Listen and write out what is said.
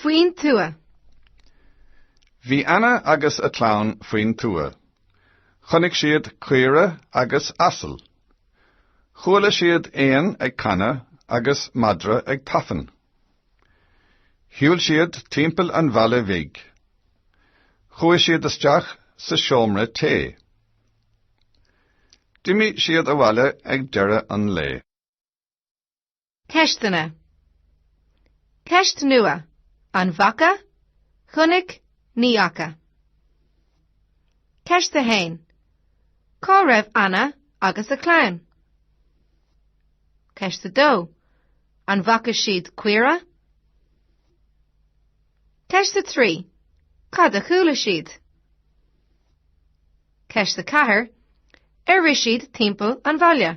Faoin tuath. Bhí Anna agus a clann faoin tuath. Chonaic siad caora agus asal. Chuala siad éan ag canadh agus madra ag tafann. Shiúil siad timpeall an bhaile bhig. Chuaigh siad isteach sa seomra tae. D'imigh siad abhaile ag deireadh an lae. Ceisteanna Ceist nua, An bhfaca, chonaic, ní fhaca? Ceist a haon, Cá raibh Anna agus a clann? Ceist a dó, An bhfaca siad caora? Ceist a trí, Cad a chuala siad? Ceist a ceathair, Ar rith siad timpeall an bhaile?